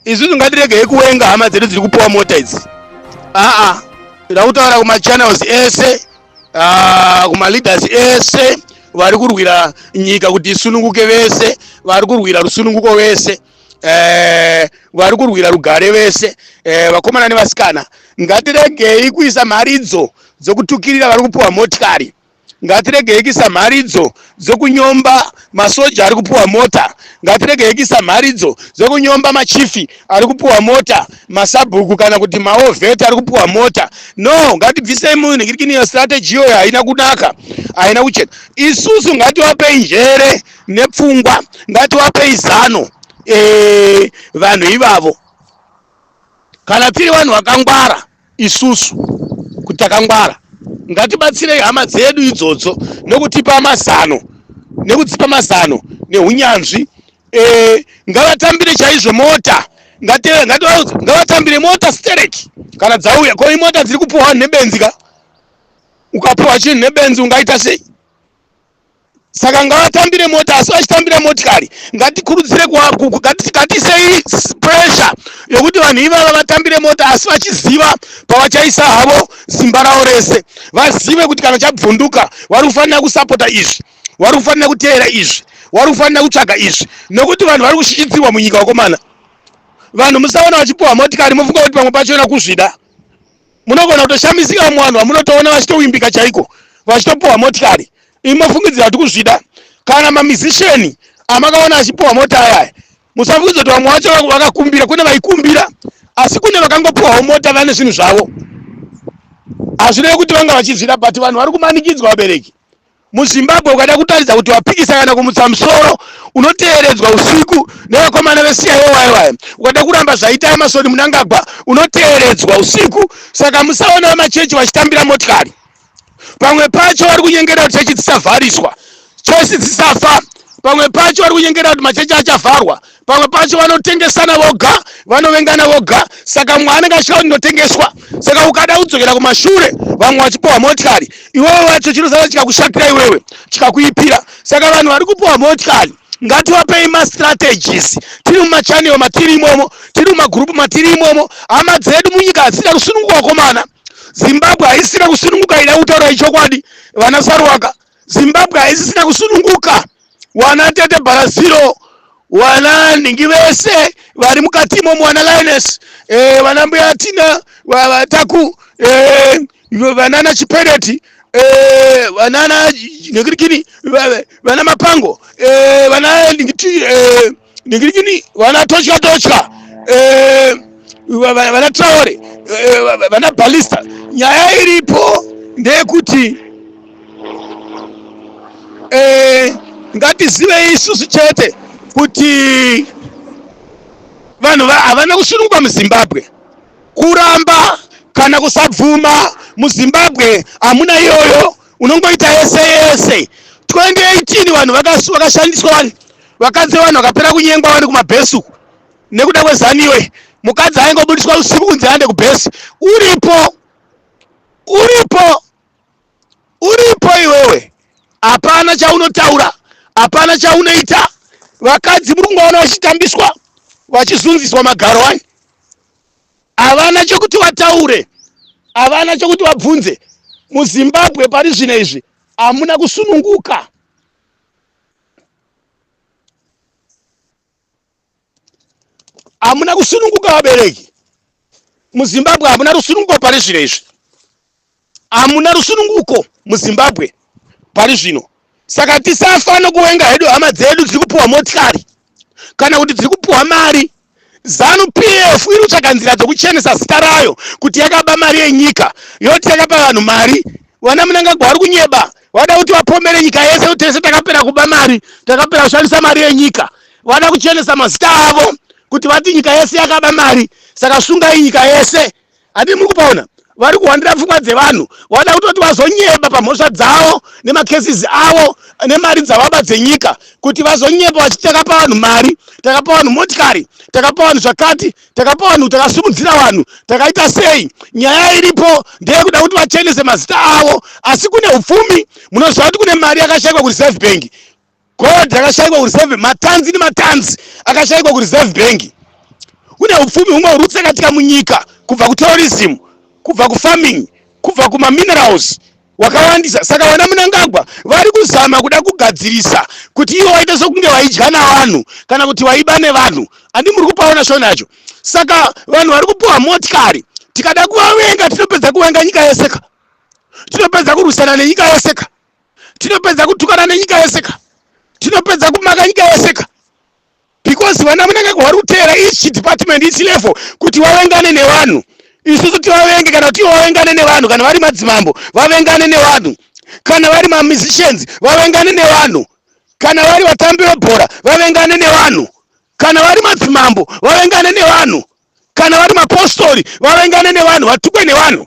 Isusu ngatiregei kuwenga hama dzedu dziri kupuwa mota idzi. Aa, tinoda kutaura kumachannels ese, ah, kumaleaders ese vari kurwira nyika kuti isununguke vese, vari kurwira rusununguko vese. Eh, vari kurwira rugare vese eh, vakomana nevasikana ngatiregei kuisa mharidzo dzokutukirira vari kupuwa motikari ngatiregei kuisa mharidzo dzekunyomba masoja ari kupuwa mota ngatiregei kuisa mharidzo dzekunyomba machifi ari kupuwa mota masabhuku kana kuti maovheti ari kupuwa mota no ngatibvisei munhikirikini iyo strategy iyoyo haina kunaka haina kuchena isusu ngatiwapei njere nepfungwa ngatiwapei zano eh, vanhu ivavo kana tiri vanhu vakangwara isusu kuti takangwara ngatibatsirei hama dzedu idzodzo nekutipa mazano nekudzipa mazano neunyanzvi e, ngavatambire chaizvo mota ngavatambire mota stereki kana dzauya ko imota dziri kupuhwa nebenzi ka ukapuhwa chinhu nebenzi ungaita sei saka ngavatambire mota asi vachitambira motikari ngatikurudzire kuva- ku- ku- ngati- ngatisei s- pressure yokuti vanhu ivava vatambire mota asi vachiziva pavachaisa havo simba ravo rese vazive kuti kana chabvunduka vari kufanira kusapota izvi vari kufanira kuteera izvi vari kufanira kutsvaga izvi nokuti vanhu vari kushishitsirwa munyika wakomana vanhu musaona vachipuwa motikari mofunga kuti pamwe pacho ina kuzvida munogona kutoshamisika vamwe vanhu vamunotoona vachitowimbika chaiko vachitopuhwa motikari imi mofungidzira kuti kuzvida kana mamizisheni amakaona achipuhwa mota ayaya musafungidzira kuti vamwe vacho va- vakakumbira kune vaikumbira asi kune vakangopuhwawo mota vane zvinhu zvavo hazvirevi kuti vanga vachizvida but vanhu vari kumanikidzwa vabereki muzimbabwe ukada kutaridza kuti wapikisa kana kumutsa musoro unoteeredzwa usiku nevakomana vesiya yewaiwai ukada kuramba zvaita emasoni munangagwa unoteeredzwa usiku saka musaonawo machechi vachitambira motikari pamwe pacho vari kunyengera kuti chechi dzisavhariswa chechi dzisafa pamwe pacho vari kunyengera kuti machechi achavharwa pamwe pacho vanotengesana voga vanovengana voga saka mwe anenge achida kuti ndotengeswa saka ukada kudzokera kumashure vamwe vachipuwa motikari iwewe wacho chinosara chikakushakira iwewe chikakuipira saka vanhu vari kupuwa motikari ngatiwapei mastrategies tiri mumachanel matiri imomo tiri mumagurupu matiri imomo hama dzedu munyika hadzida kusununguka wakomana zimbabwe haisina kusununguka ida kutaura ichokwadi vana sarwaka zimbabwe haisisina kusununguka wana tete bharaziro wana nhingi vese vari mukati imomo wana lines e, vana mbuya tina vataku e, eh, vanana chipereti e, eh, vanana nekirikini vana mapango e, vana nhingi e, ndingirikini vana totya totya eh, vana traore eh, vana balista nyaya iripo ndeyekuti eh, ngatizivei isusu chete kuti vanhu havana kusunungwa muzimbabwe kuramba kana kusabvuma muzimbabwe hamuna iyoyo unongoita yese yese 2018 vanhu vakashandiswa vakadzi vevanhu vakapera kunyengwa vari kumabhesi uku nekuda kwezaniwe mukadzi aingobudiswa usiku kunzi aende kubhesi uripo uripo uripo iwewe hapana chaunotaura hapana chaunoita vakadzi muri kungoona vachitambiswa vachizunziswa magaro ani havana chokuti vataure havana chokuti vabvunze muzimbabwe pari zvino izvi hamuna kusununguka hamuna kusununguka vabereki muzimbabwe hamuna rusununguko pari zvino izvi hamuna rusununguko muzimbabwe pari zvino saka tisafa nokuwenga hedu hama dzedu dziri kupiwa motikari kana kuti dziri kupiwa mari Zanu PF iri kutsvaga nzira dzokuchenesa zita rayo kuti yakaba mari yenyika yoti yakapa vanhu mari. Vana Mnangagwa vari kunyeba, vada kuti vapomere nyika yese kuti tese takapera kuba mari, takapera kushandisa mari yenyika. Vada kuchenesa mazita avo kuti vati nyika yese yakaba mari, saka sungai nyika yese. Ati muri kupaona vari kuhwandira pfungwa dzevanhu vada kutoti vazonyeba pamhosva dzavo nemacases avo nemari dzavaba dzenyika kuti vazonyeba vachiti takapa vanhu mari takapa vanhu motikari takapa vanhu zvakati takapa vanhu takasumudzira vanhu takaita sei nyaya iripo ndeyekuda kuti vachenese mazita avo asi kune upfumi munoziva kuti kune mari yakashaikwa kureserve bank gold rakashaikwa kureserve matanzi nematanzi akashaikwa kureserve bank kune upfumi humwe huri kutsakatika munyika kubva kutourism kubva kufarming kubva kumaminerals wakawandisa saka vana munangagwa vari kuzama kuda kugadzirisa kuti ivo vaite sokunge vaidya navanhu kana kuti vaiba nevanhu andi muri kupaona shona yacho saka vanhu vari kupiwa motikari tikada kuvavenga tinopedza kuvenga nyika yeseka tinopedza kurwisana nenyika yeseka tinopedza kutukana nenyika yese ka tinopedza kumaka nyika yese ka because vana munenge kuhwari kuteera each department each level kuti vavengane nevanhu isusu tivavenge kana kuti vavengane nevanhu kana vari madzimambo vavengane nevanhu kana vari mamusicians vavengane nevanhu kana vari vatambi vebhora vavengane nevanhu kana vari madzimambo vavengane nevanhu kana vari mapostori vavengane nevanhu vatukwe nevanhu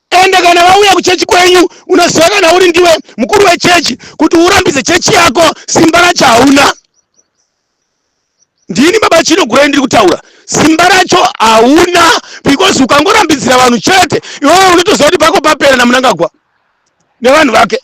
ende kana vauya kuchechi kwenyu unoziva kana uri ndiwe mukuru wechechi kuti urambidze chechi yako simba racho hauna ndini baba chino gurai ndiri kutaura simba racho hauna because ukangorambidzira vanhu chete iwewe unotoziva kuti pako papera namunangagwa nevanhu vake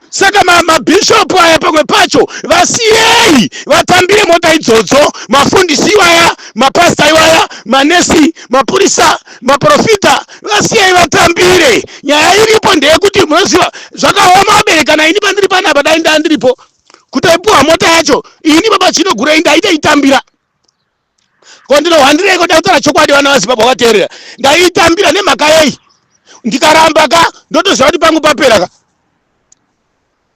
saka mabhishopu ma aya pamwe pacho vasiyei vatambire mota idzodzo mafundisi iwaya mapasta iwaya manesi mapurisa maprofita vasiyei vatambire nyaya iripo ndeyekuti munoziva zvakaoma vaberekana ini pandiri panapa dai ndaa ndiripo kutaipuwa mota yacho ini baba chino gurei ndaita itambira ko ndinohwandireiko ndakutaura chokwadi vana vazimbabwe vateerera ndaitambira nemhaka yei ndikaramba ka ndotoziva kuti pangu papera ka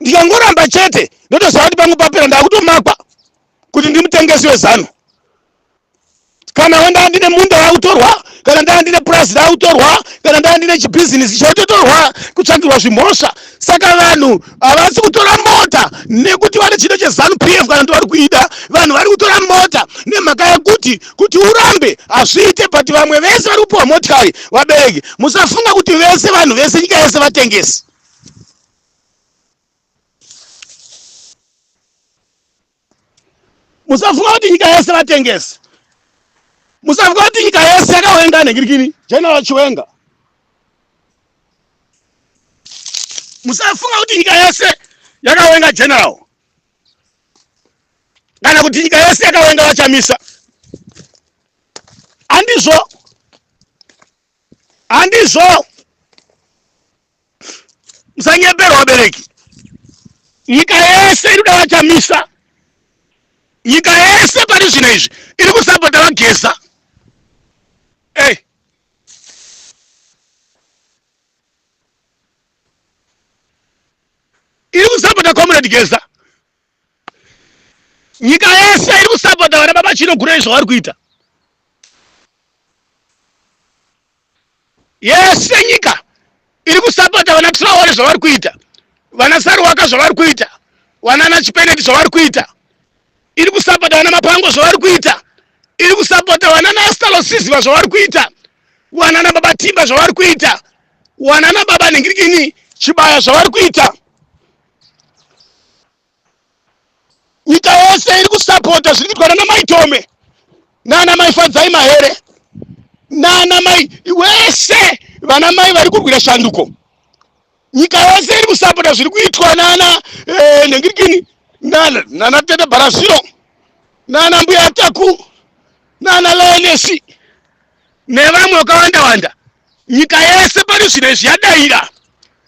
ndikangoramba chete ndotoziva kuti pangu papera ndakutomakwa kuti ndimutengesi wezano kana wendaa ndine munda wakutorwa kana ndaa ndine purazi rakutorwa kana ndaa ndine chibhizinesi chototorwa kutsvakirwa zvimhosva saka vanhu havasi kutora mota nekuti vane chida chezanu p f kana kuti vari kuida vanhu vari kutora mota nemhaka yekuti kuti urambe hazviite but vamwe vese vari kupiwa motikari vabereki musafunga kuti vese vanhu vese nyika yese vatengesi musafunga kuti nyika yese vatengesi musafunga kuti nyika yese yakawenga negirikini general chiwenga musafunga kuti nyika yese yakawenga general kana kuti nyika yese yakawenga vachamisa handizvo handizvo musanyeperwa vabereki nyika yese iri kuda vachamisa nyika yese pari zvino izvi iri kusapota vageza ey eh. iri kusapota comrade geza nyika yese iri kusapota vana baba chino gura izvavari kuita yese nyika iri kusapota vana traore zvavari kuita vana saruwaka zvavari kuita vana nachipeneti zvavari kuita iri kusapota vana mapango zvavari kuita iri kusapota vana nastalosiziva zvavari kuita vana nababa timba zvavari kuita vana nababa nhingirikini chibaya zvavari kuita nyika yese iri kusapota zviri kuitwa nana mai tome nana mai fadzai mahere nana mai wese vana mai vari kurwira shanduko nyika yose iri kusapota zviri kuitwa nana eh, nhengirikini nana nana tete bharaziro nana mbuya taku nana leonesi nevamwe vakawanda wanda nyika yese pari zvino izvi yadaira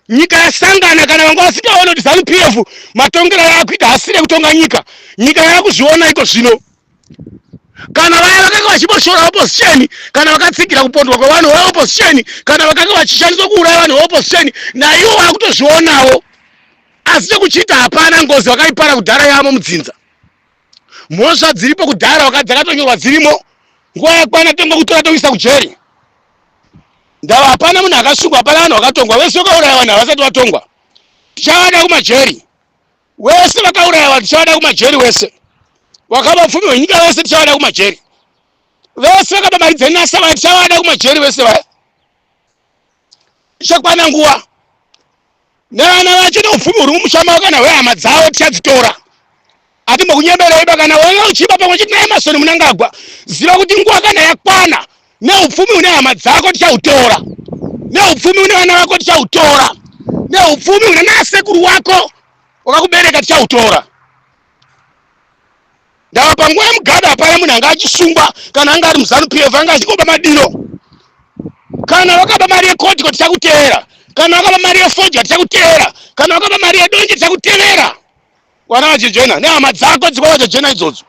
nyika yasangana kana vanga vasingaona kuti zanu pf matongero yaakuita hasire kutonga nyika nyika yaakuzviona iko zvino kana vaya vakanga vachimboshora opposition kana vakatsigira kupondwa kwevanhu veopposition kana vakanga vachishandiswa kuuraya vanhu veopposition naiwo vakutozvionawo asi chekuchiita hapana ngozi vakaipara kudhara yavo mudzinza mhosva dziripo kudhara wakati dzakatonyorwa dzirimo nguva yakwana tongwa kutora toisa kujeri ndava hapana munhu akasungwa hapana vanhu vakatongwa vese vakauraya vanhu havasati vatongwa tichavada kumajeri wese vakauraya vanhu tichavada kumajeri wese wakaba pfumi hwenyika vese tichavada kumajeri vese vakaba mari dzenasa vaya tichavada kumajeri vese vaya ichakwana nguva nevana vacho neupfumi huri mumusha mavo kana hwehama dzavo tichadzitora atimbokunyeberei bakana wanga uchiba pamwe chete naemasoni munangagwa ziva kuti nguva kana yakwana neupfumi une hama dzako tichautora neupfumi une vana vako tichautora neupfumi une nasekuru wako wakakubereka tichautora ndava panguva yemugada hapana munhu anga achisungwa kana anga ari muzanu p f anga achingoba madiro kana vakaba mari yekotiko tichakuteera kana vakaba mari yefoja tichakuteera kana vakaba mari yedonje tichakutevera kwana vachijena nehama dzako dzikwa vachijena idzodzo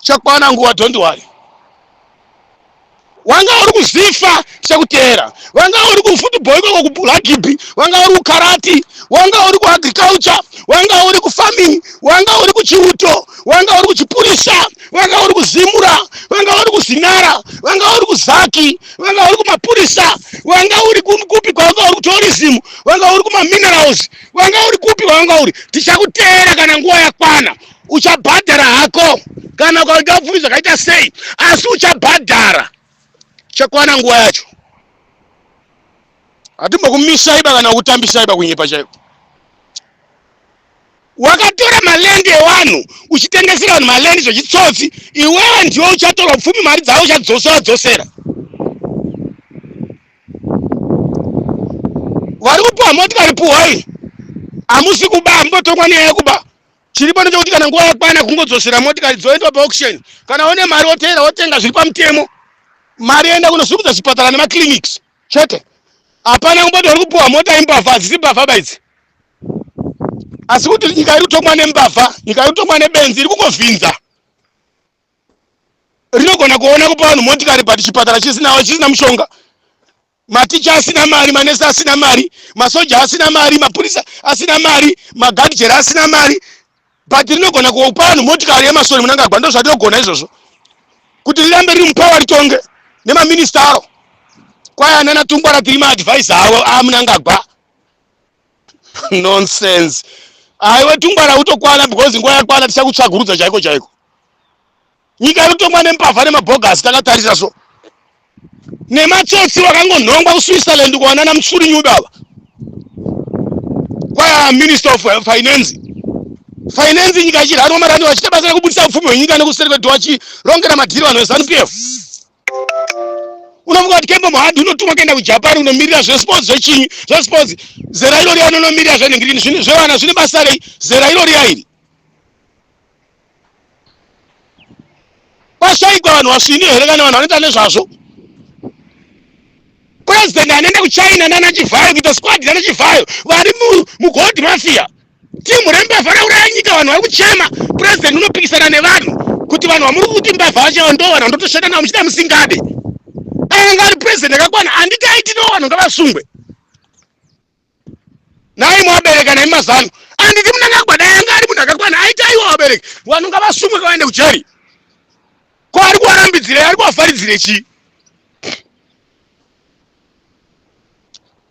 chakwana nguva don't worry wanga uri kuzifa sekutera wanga uri kufootball ikoko kurugby wanga uri kukarati wanga uri kuagriculture wanga uri kufarming wanga uri kuchiuto wanga uri kuchipurisa wanga uri kuzimura wanga uri kuzinara wanga uri kuzaki wanga uri kumapurisa wanga uri ku- kupi kwawanga uri kutourism wanga uri kumaminerals wanga uri kupi kwawanga uri tichakuteera kana nguva yakwana uchabhadhara hako kana ukaita upfumi zvakaita sei asi uchabhadhara chakwana nguva yacho hatimbokumisaiba kana kutambisaiba kunyepa chaiko wakatora malendi ewanhu uchitengesera vanhu malendi zvechitsotsi iwewe ndiwe uchatora pfumi mari dzavo uchadzosera dzosera vari kupuhwa motikari puhwai hamusi kuba hamutotongwa nyaya yekuba chiri pano chekuti kana nguva yakwana kungodzosera motikari dzoendwa paauction kana une mari woteera wotenga zviri pamutemo mari yoenda kunosimudza zvipatara nemaclinics chete hapana kumboti vari kupiwa mota imbavha hadzisi mbavha baidzi asi kuti nyika iri kutongwa nembavha nyika iri kutongwa nebenzi iri kungovhinza rinogona kuona kupa vanhu motikari but chipatara chisinawo chisina mushonga maticha asina mari manesi asina mari masoja asina mari mapurisa asina mari magadjera asina mari but rinogona kupa vanhu motikari yemasoni munangagwa ndo zvatinogona izvozvo kuti rirambe riri mupawa ritonge nemaminista aro kwaya nana tungwara tiri maadvise avo amunangagwa nonsense aiwe tungwara utokwana because nguva yakwana tichakutsvagurudza chaiko chaiko nyika inotongwa nembavha nemabhogasi takatarisa so nematsotsi vakangonhongwa kuswitzerland kuwanana musuri nyudo ava kwaya minister of finance finance nyika ichirarwa marani vachita basa rekubudisa upfumi hwenyika nekuseri kwedu vachirongera madhiri vanhu vezanup f unofunga kuti kembo muhadhi unotumwa kuenda kujapan unomirira zvesports zvechinyi zvesports zera irori anonomirira zvenhengirini zvevana zvine basa rei zera irori yairi kwashaikwa vanhu vasvini here kana vanhu vanoita nezvazvo president anoenda kuchina nana chivhayo kuita squad nana chivhayo vari mugold mafia timu rembavha rauraya nyika vanhu vari kuchema president unopikisana nevanhu kuti vanhu vamuri kuti mbavha vachewa ndo vanhu vandotoshanda navo muchida musingade anga ari president akakwana anditi aiti no vanhu ngavasungwe nai mwabereka nemi mazanu anditi munangagwa dai anga ari munhu akakwana aita aiwa vabereki vanhu ngavasumwe kavaende kujeri ko ari kuvarambidzirei ari kuvafaridzire chii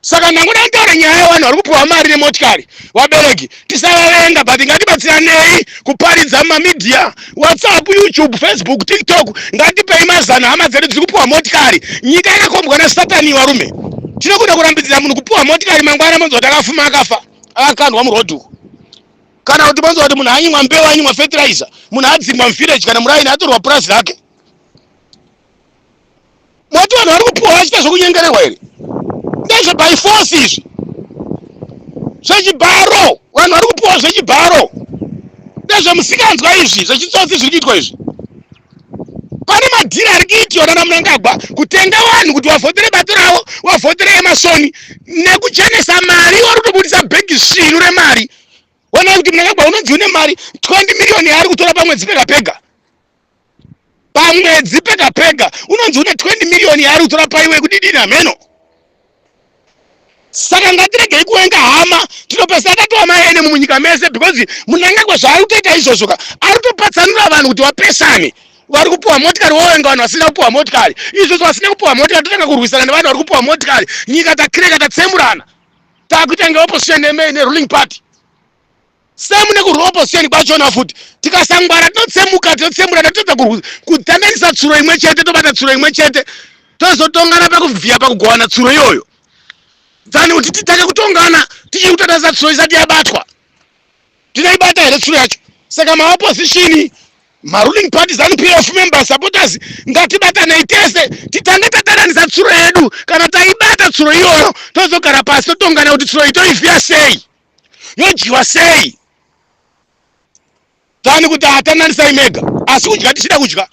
saka ndangoda kutaura nyaya yevanhu vari kupiwa mari nemotikari vabereki tisavavenga but ngatibatsiranei kuparidza mumamidhiya whatsapp youtube facebook tiktok ngatipei mazano hama dzedu dziri kupiwa motikari nyika yakakombwa nasatani varume tinokuda kurambidzira munhu kupiwa motikari mangwana monzwa kuti akafuma akafa akakandwa murodhi uko kana kuti monzwa kuti munhu anyimwa mbeu anyimwa fertilizer munhu adzingwa muvillage kana muraini atorwa purazi rake moti vanhu vari kupuwa vachiita zvekunyengererwa here ndezve by force izvi zvechibharo vanhu vari kupuwa zvechibharo ndezvemusikanzwa izvi zvechitsotsi zviri kuitwa izvi pane madhiri ari kuitiwa nana munangagwa kutenga vanhu kuti vavhotere bato ravo vavhotere emasoni nekuchenesa mari wari kutobudisa bhegi svinu remari wonai kuti munangagwa unonzi une mari 20 miriyoni yaari kutora pamwedzi pega pega pamwedzi pega pega unonzi une 20 million yaari kutora paiwe kudidini hameno saka ngatiregei kuwenga hama tinopesera tatowa maene mumunyika mese because munangagwa zvaari kutoita izvozvo ka ari kutopatsanura vanhu kuti vapesane vari kupiwa motikari wowenga vanhu vasina kupiwa motikari izvozvo vasina kupiwa motikari totanga kurwisana nevanhu vari kupiwa motikari nyika takireka tatsemurana takuita nge opposition neruling party same nekurwa opposition kwachona futi tikasangwara tinotsemuka tinotsemura tatotadza kurwisa kudhandanisa tsuro imwe chete tobata tsuro imwe chete tozotongana pakuvhiya pakugovana tsuro iyoyo dzani kuti titange kutongana tichiri kutatarisa tsuro isati yabatwa tinoibata here tsuro yacho saka maopposition maruling party zanup of member supporters ngatibatanei tese titange tataranisa tsuro yedu kana taibata tsuro iyoyo tozogara pasi totongana kuti tsuro itoivhiya sei yodyiwa sei tani kuti hatananisai mega asi kudya tichida kudya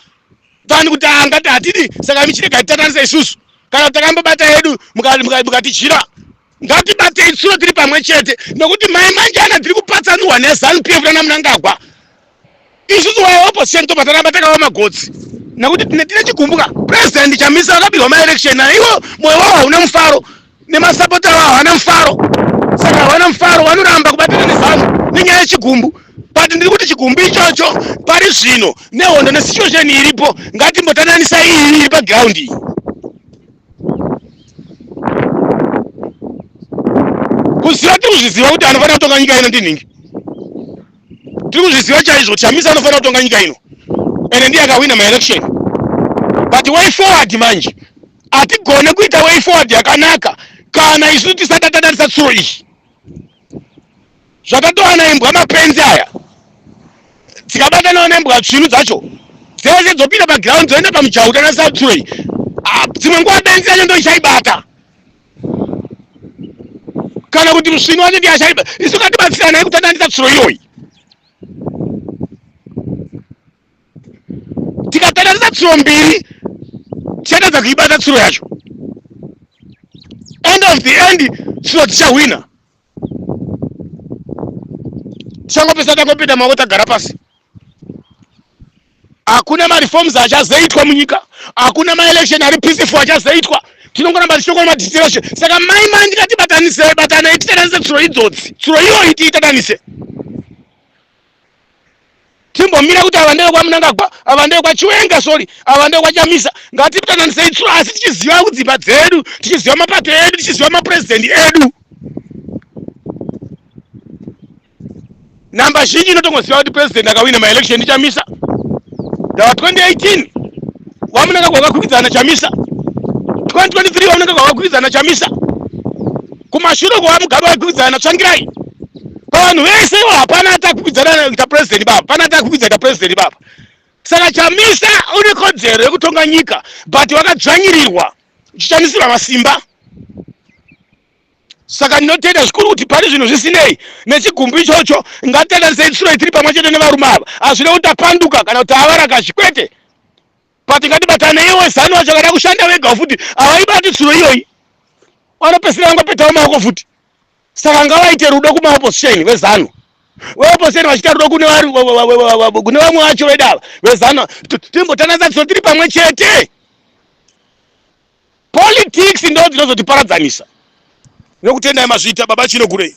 tani kuti angati hatidi saka michirega titananisa isusu kana kuti takambobata yedu mukatidyira ngatibate itsuro tiri pamwe chete nokuti mai manjana tiri kupatsanurwa nezanu pf rana munangagwa isusu waya opposition tobva taramba takawa magotsi nekuti tine tine chikumbuka president chamisa akabirwa maelection ayo ivo moyo wavo hauna mufaro nemasapota avo havana mufaro saka havana mufaro vanoramba kubatana nezanu nenyaya yechigumbu but ndiri kuti chigumbu ichocho pari zvino nehondo nesituation iripo ngatimbotananisa iyi iri paground iyi kuziva tiri kuzviziva kuti anofanira kutonga nyika ino ndinhingi tiri kuzviziva chaizvo kuti chamisa anofanira kutonga nyika ino ende ndiye akahwina maelection but way forward manje hatigone kuita way forward yakanaka kana isu tisati tadarisa tsuro iyi zvatatowana imbwa mapenzi aya dzikabatanawo nembwa tsvinu dzacho dzese dzopinda paground dzoenda pamujahu tanasatsuro iyi ah, dzimwe nguva benzi yacho ndoichaibata kana kuti musvini wanenge yashaiba isu ngatibatsirana yekutandanisa tsuro iyoyi tikatandanisa tsuro mbiri tichatadza kuibata tsuro yacho end of the end tsuro tichahwina tichangopesa tangopinda maoko tagara pasi hakuna mareforms achazoitwa munyika hakuna maelection ari peaceful achazoitwa tinongoramba tichitokona madistrashe saka mai mai ndikatibatanise batanai titananise tsuro idzodzi tsuro iyoyi tiitatanise timbomira kuti ava ndeve kwamunangagwa ava ndeve kwachiwenga sori ava ndeve kwachamisa ngatitananise itsuro asi tichiziva kudzimba dzedu tichiziva mapato edu tichiziva mapurezidendi edu namba zhinji inotongoziva kuti purezidendi akawina maelection ndichamisa ndava 2018 wamunangagwa wakakwikidzana chamisa 2023 wamunangagwa wakakwikidzana chamisa Kumashure kwa Mugabe waikwidzana na Tsvangirai. Pavanhu vese ivo hapana atakwidzana na president baba. Pana atakwidzana na president baba. Saka Chamisa une kodzero yekutonga nyika but wakadzvanyirirwa uchishandisirwa masimba. Saka ndinotenda zvikuru kuti pane zvinhu zvisinei nechigumbu ichocho ngatitatarisei tsuro itiri pamwe chete nevarume ava. Hazvina kuti tapanduka kana kuti tava varakashi kwete. but ngatibatane iwe zanu wacho akada kushanda vega futi havaibati tsuro iyoyi vanopesera vangopetawo maoko futi saka ngavaite rudo kumaopposition vezanu veopposition vachiita rudo kune vamwe vacho vedava vezanu timbotananisa tsuro tiri pamwe chete politics ndo dzinozotiparadzanisa nokutendai mazvita baba chino kurei